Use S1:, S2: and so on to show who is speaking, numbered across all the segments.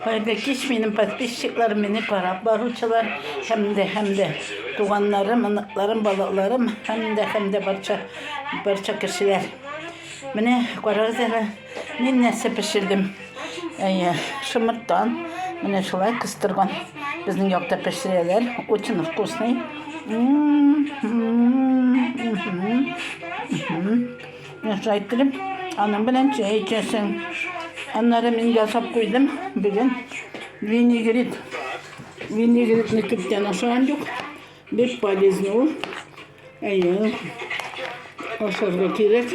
S1: Хәерле кич, минем подписчикларым, мине карап баручылар, һәм дә һәм дә туганнарым, оныкларым, балаларым, һәм дә һәм дә барча барча кешеләр. Менә карагыз әле, мин нәрсә пешердем. Әйе, шымырттан, менә шулай кыстырган. Безнең якта пешерәләр, очень вкусный. Менә шулай иттереп, аның белән чәй эчәсең. Аннары мин ясап куйдым бүген винегрет. Винегретны күптән ашаган юк. Бик полезный ул. Әйе. Ашарга кирәк.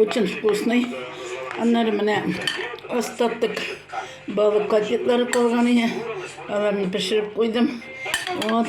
S1: Очень вкусный. Аннары менә остаток балык котлетлары калган иде. Аларны пешереп куйдым. Вот.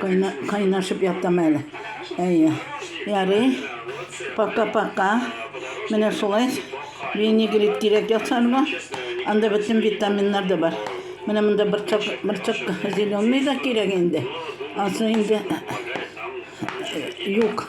S1: Кайна, кайнашып ятам әле. Әйе. Ярый. Пока-пока. Менә шулай. Винегрет кирәк ясарга. Анда бөтен витаминнар да бар. Менә монда бырчык, бырчык зеленый да кирәк инде. Асы инде юк.